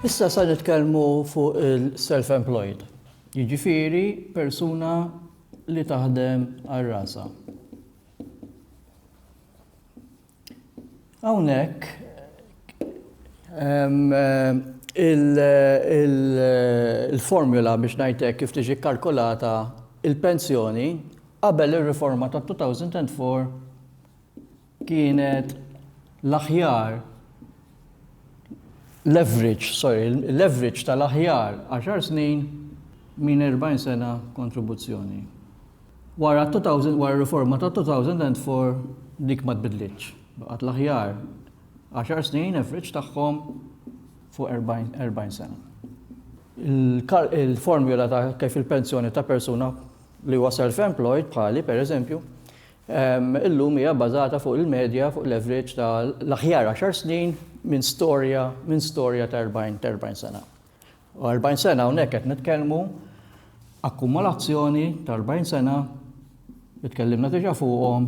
Issa sa nitkellmu fuq il-self-employed, jiġifieri persuna li taħdem għal rasha. Hawnhekk il-formula biex ngħid hekk kif tiġi kkalkulata l-pensjoni qabel ir-riforma tat-2004 kienet l-aħjar l-average, sorry, l-average tal-aħjar għaxar snin minn 40 sena kontribuzzjoni. Wara r-riforma tat-2004 dik ma tbiddlitx, baqgħet l-aħjar għaxar snin average tagħhom fuq 40 sena. Il-formula ta' kif il-pensjoni ta' persuna li huwa self-employed bħali, pereżempju, illum hija bbażata fuq il-medja, fuq l-average ta' l-aħjar għaxar snin minn storja ta' 40 sena. 40 sena hawnhekk qed nitkellmu akkumulazzjoni ta' 40 sena li tkellimna diġà fuqhom.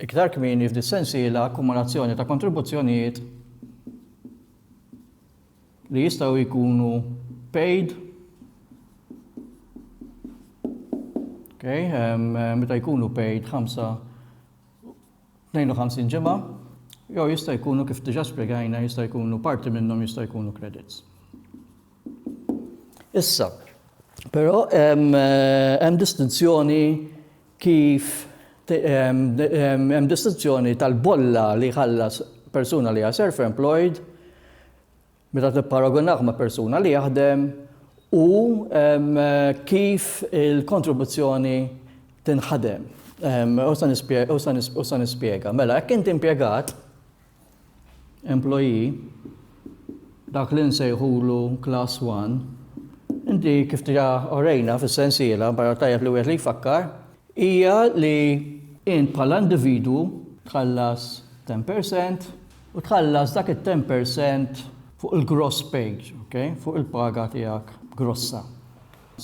Iktar kmieni f'dis sensiela akkumulazzjoni ta' kontribuzzjonijiet li jistgħu jkunu paid Okay, um, meta jkunu paid 5 52 ġimgħa, jew jista' jkunu kif diġà spjegajna jista' jkunu parti minnhom jista' jkunu credits. Issa, però hemm distinzjoni kif hemm distinzjoni tal-bolla li jħallas persuna li hija self-employed meta tipparagunah ma' persuna li jaħdem u kif il-kontribuzzjoni tinħadem. U se nispjega, u se nispjega. Mela, jekk inti impjegat, employee, dak li nsejħulu class one, inti kif diġà orejna fis-sensiela, barra tajjeb li wieħed li jfakkar, hija li int bħala individwu tħallas ten percent U tħallas dak it-ten per cent fuq il-gross page, ok, fuq il-paga tiegħek grossa.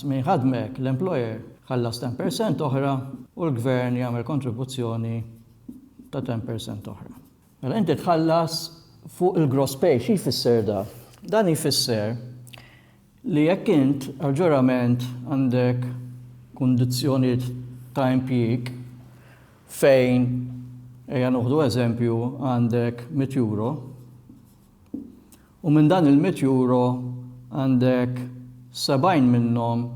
Min jħaddmek, l-employer, jħallas ten per cent oħra u l-gvern jagħmel kontribuzzjoni ta' ten per cent oħra. Mela inti tħallas fuq il-gross pay, xi jfisser dan? Dan jfisser Li jekk int ġurament għandek kundizzjonijiet ta' impjieg fejn, ejja noħdu eżempju, għandek mitt euro, u minn dan il-mitt euro għandek sebgħin minnhom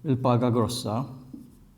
il-paga grossa,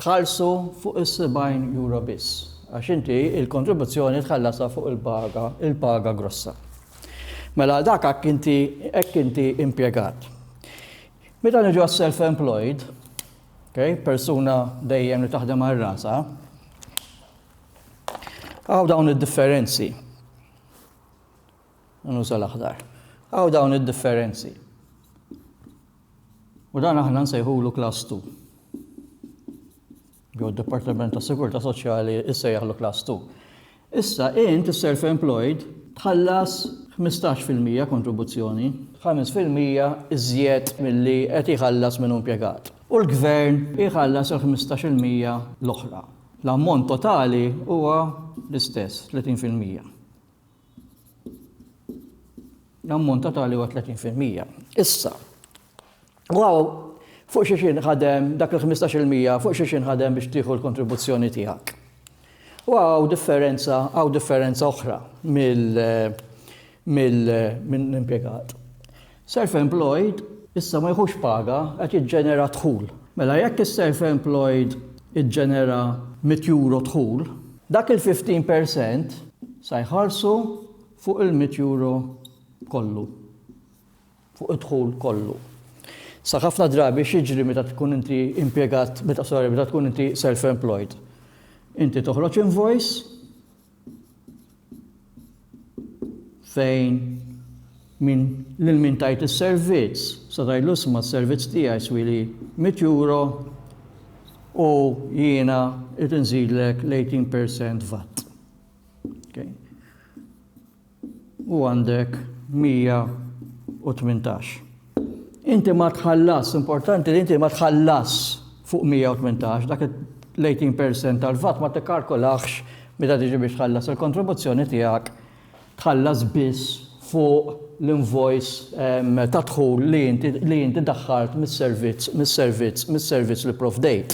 tħallsu fuq is-70 euro biss, għax inti l-kontribuzzjoni tħallasha fuq il-paga, il-paga grossa. Mela għal dak hekk inti hekk inti impjegat. Meta niġu għas-self-employed, okay, persuna dejjem li taħdem għal rasa, Għaw dawn id-differenzi. Nuża l-aħdar. Għaw dawn id-differenzi. U dan aħna nsejħulu Class Two. Jew d-Dipartiment tas-Sigurtà Soċjali jsejjaħlu Class Two. Issa int is-self-employed tħallas 15 fil-mija kontribuzzjoni, 5 fil-mija iżjed milli qed jħallas min hu impjegat, u l-Gvern jħallas il-15 il-mija l-oħra. L-ammont totali huwa l-istess, 30 fil-mija. L-ammont totali huwa 30%. Issa, waw, fuq xi xin ħadem dak il-15% fuq xi xin ħadem biex tieħu l-kontribuzzjoni tiegħek. U għaw differenza, għaw differenza oħra mill-impiegat. Self-employed issa ma jieħux paga qed jiġġenera dħul. Mela jekk is-self-employed iġġenera mitt euro dħul, dak il-fifteen per cent sa jħallsu fuq il-mitt euro kollu, fuq id-dħul kollu. Sa ħafna drabi x'jiġri meta tkun inti impjegat, meta sorry, meta tkun inti self-employed? Inti toħroġ invoice, fejn min lil min tajt is-servizz se tgħidlu isma' s-servizz tiegħi jswili mitt euro u jiena qed inżidlek l-18% vat. Okay. u għandek 118. Inti ma tħallas, importanti li inti ma tħallas fuq 118, dak l-18% tal-vat ma tikkarkolax meta tiġi biex tħallas il-kontribuzzjoni tiegħek tħallas biss fuq l-invoice ehm, ta' dħul li inti daħħalt mis-servizz, mis-servizz, mis-servizz li provdejt.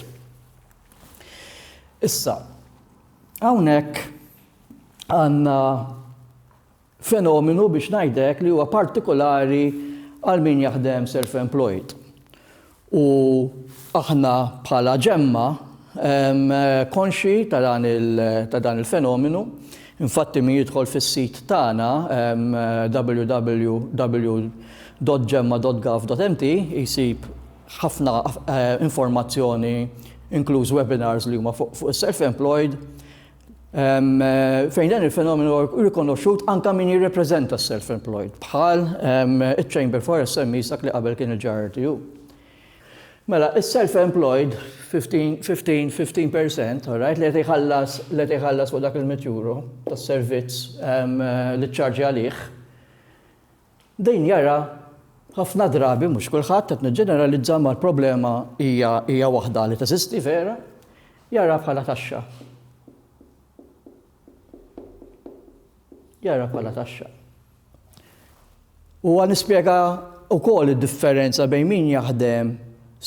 Issa, hawnhekk għandna fenomenu biex ngħid hekk li huwa partikolari għal min jaħdem self-employed. U aħna bħala ġemma konxi ta' dan il-fenomenu, infatti min jidħol fis-sit tagħna www.ġemma.gov.mt jsib ħafna informazzjoni inkluż webinars li huma fuq is-self-employed Fejn dan il-fenomenu huwa rikonoxxut anke min jirrepreżenta s-self-employed bħal iċ-Chamber for SMEs dak li qabel kien il-JRTU. Mela, is-self-employed 15% alright li qed iħallas li qed iħallas fuq dak il-mitjuru tas-servizz li ċċarġi għalih. Din jara ħafna drabi, mhux kulħadd, qed niġġeneralizza imma l-problema hija hija waħda li teżisti vera, jara bħala taxxa. Jara bħala taxxa. Huwa nispjega wkoll id-differenza bejn min jaħdem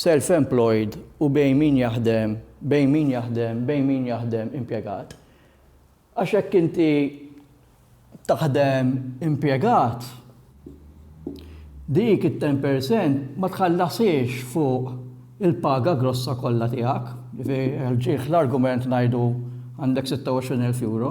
self-employed u bejn min jaħdem bejn min jaħdem bejn min jaħdem impjegat. Għax jekk inti taħdem impjegat, dik it-ten per cent ma tħallasiex fuq il-paga grossa kollha tiegħek. Jiġifieri ġieħ l-argument ngħidu għandek 26,000 euro.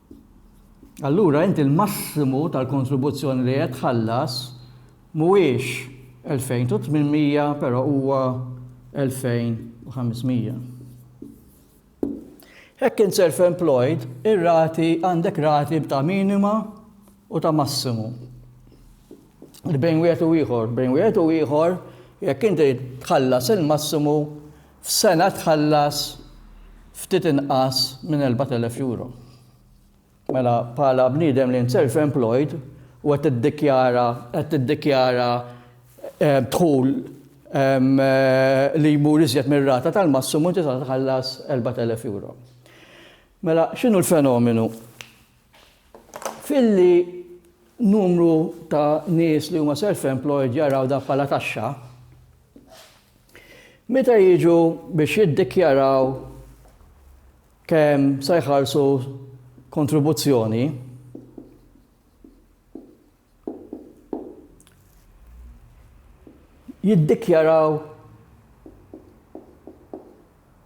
Allura int il-massimu tal-kontribuzzjoni li qed tħallas mhuwiex 2,800 però huwa 2,500. Jekk int self-employed, ir-rati għandek rati ta' minima u ta' massimu. Li bejn wieħed u ieħor, bejn wieħed u ieħor jekk inti tħallas il-massimu F'sena tħallas ftit inqas minn 4,000 euro. Mela bħala bniedem li int self employed u qed tiddikjara qed tiddikjara dħul li jmur iżjed mir-rata tal-massimu inti titħallas 4,000 euro. Mela x'inhu l-fenomenu? Filli numru ta' nies li huma self-employed jaraw dan bħala taxxa, meta jiġu biex jiddikjaraw kemm se jħallsu kontribuzzjoni, jiddikjaraw,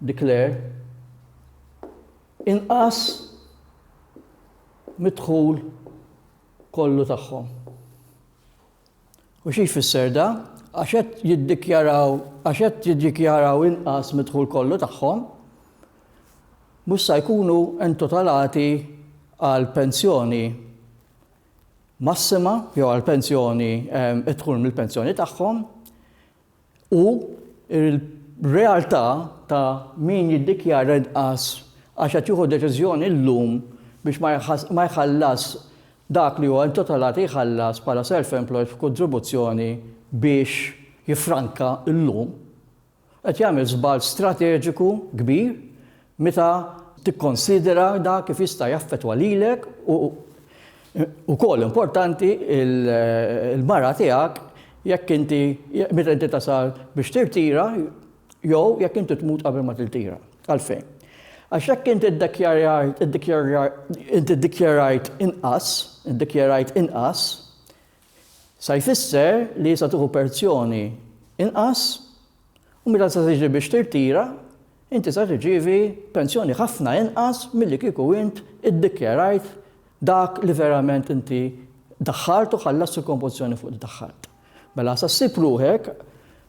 declare, Inqas mid-dħul kollu tagħhom. U xi jfisser dan? Għax qed jiddikjaraw għax qed jiddikjaraw inqas mid-dħul kollu tagħhom, mhux se jkunu entutalati għal pensjoni massima jew għal pensjoni id-dħul mill-pensjoni tagħhom u r-realtà ta' min jiddikjara inqas għax qed jieħu deċiżjoni llum biex ma jħallasx dak li huwa intitolat jħallas bħala self-employed f'kontribuzzjoni biex jiffranka llum qed jagħmel żball strateġiku kbir meta tikkonsidera dak kif jista' jaffettwa lilek u wkoll importanti l-mara tiegħek jekk inti meta inti tasal biex tirtira jew jekk inti tmut qabel ma tiltira. Għalfejn? Għax jekk inti ddikjarajt inqas, iddikjarajt inqas, Sa jfisser li sa tieħu perzjoni inqas u meta sa tiġi biex tirtira inti sa tirċievi penzjoni ħafna inqas milli kieku int iddikjarajt dak li verament inti daħħart u ħallast il-konpożizzjoni fuq li daħħart. Mela sa ssib ruħek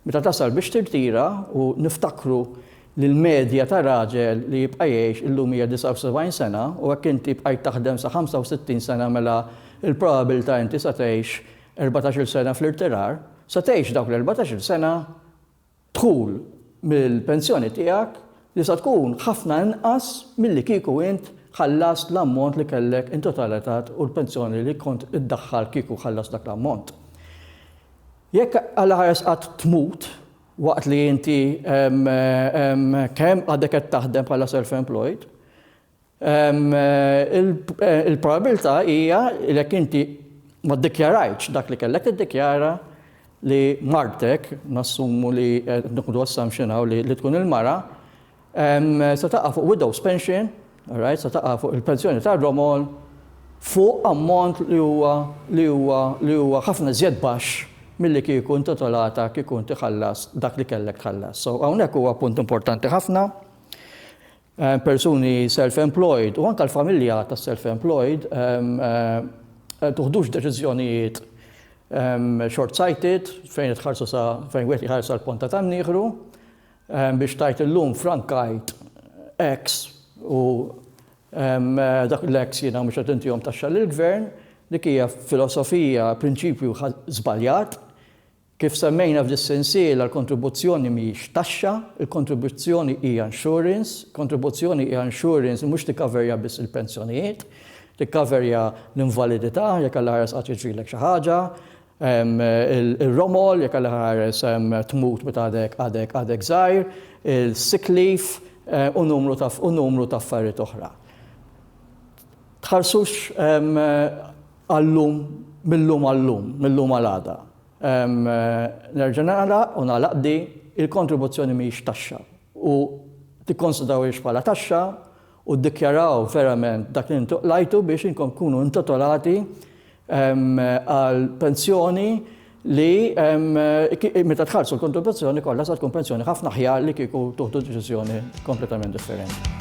Meta tasal biex tirtira, u niftakru li l-medja ta' raġel li jibqa' jgħix illum hija 79 sena, u hekk inti bqajt taħdem sa 65 sena mela l-probabiltà inti se tgħix erbatax-il sena fl-irtirar, se tgħix dawk l-erbatax-il sena b'dħul mill-pensjoni tiegħek li se tkun ħafna inqas milli kieku int ħallast l-ammont li kellek intotalitat u l-pensjoni li kont iddaħħal kieku ħallast dak l-ammont. Jekk għall-aħħar qed tmut waqt li inti kemm għadek qed taħdem bħala self-employed, il-probabilità hija li jekk inti ma ddikjarajtx dak li kellek tiddikjara li martek, nassumu li, nieħdu assumption hawn li tkun il-mara, Se taqa' fuq widow's pension, alright, se taqa' fuq il-pensjoni tar-romol fuq ammont li huwa li huwa li huwa ħafna iżjed baxx milli kieku intitolata kieku inti ħallast dak li kellek tħallas. So hawnhekk huwa punt importanti ħafna. Persuni self-employed u anke l-familja tas-self-employed tuħdux deċiżjonijiet short-sighted fejn itħarsu sa fejn wieħed jħarsu l-ponta tan-nieħru Biex tgħid illum frankajt X u dak l-X jiena mhux qed intihom taxxa lill-Gvern, dik hija filosofija, prinċipju żbaljat. Kif semmejna f'dis-sensiela l-kontribuzzjoni mhijiex taxxa, il-kontribuzzjoni hija insurance, kontribuzzjoni hija insurance li mhux tikkaverja biss il-pensjonijiet, tikkaverja l-invalidità jekk Alla ħares qatt jiġrilek xi ħaġa, Ir-romol, jekk Alla ħares tmut meta għadek għadek żgħir, il-sick leave u numru ta' u numru ta' affarijiet oħra. Tħarsux għal-lum mil-lum għal-lum, mil-lum għal-għada. Nerġa' nagħlaq u nagħlaq di, il-kontribuzzjoni mhijiex taxxa u tikkonsidrawhiex bħala taxxa u ddikjaraw verament dak li intu qlajtu biex inkom tkunu intotolati għal pensjoni li meta tħarsu l-kontribuzzjoni kollha sa tkun pensjoni ħafna ħjar li kieku tuħdu deċiżjoni kompletament differenti.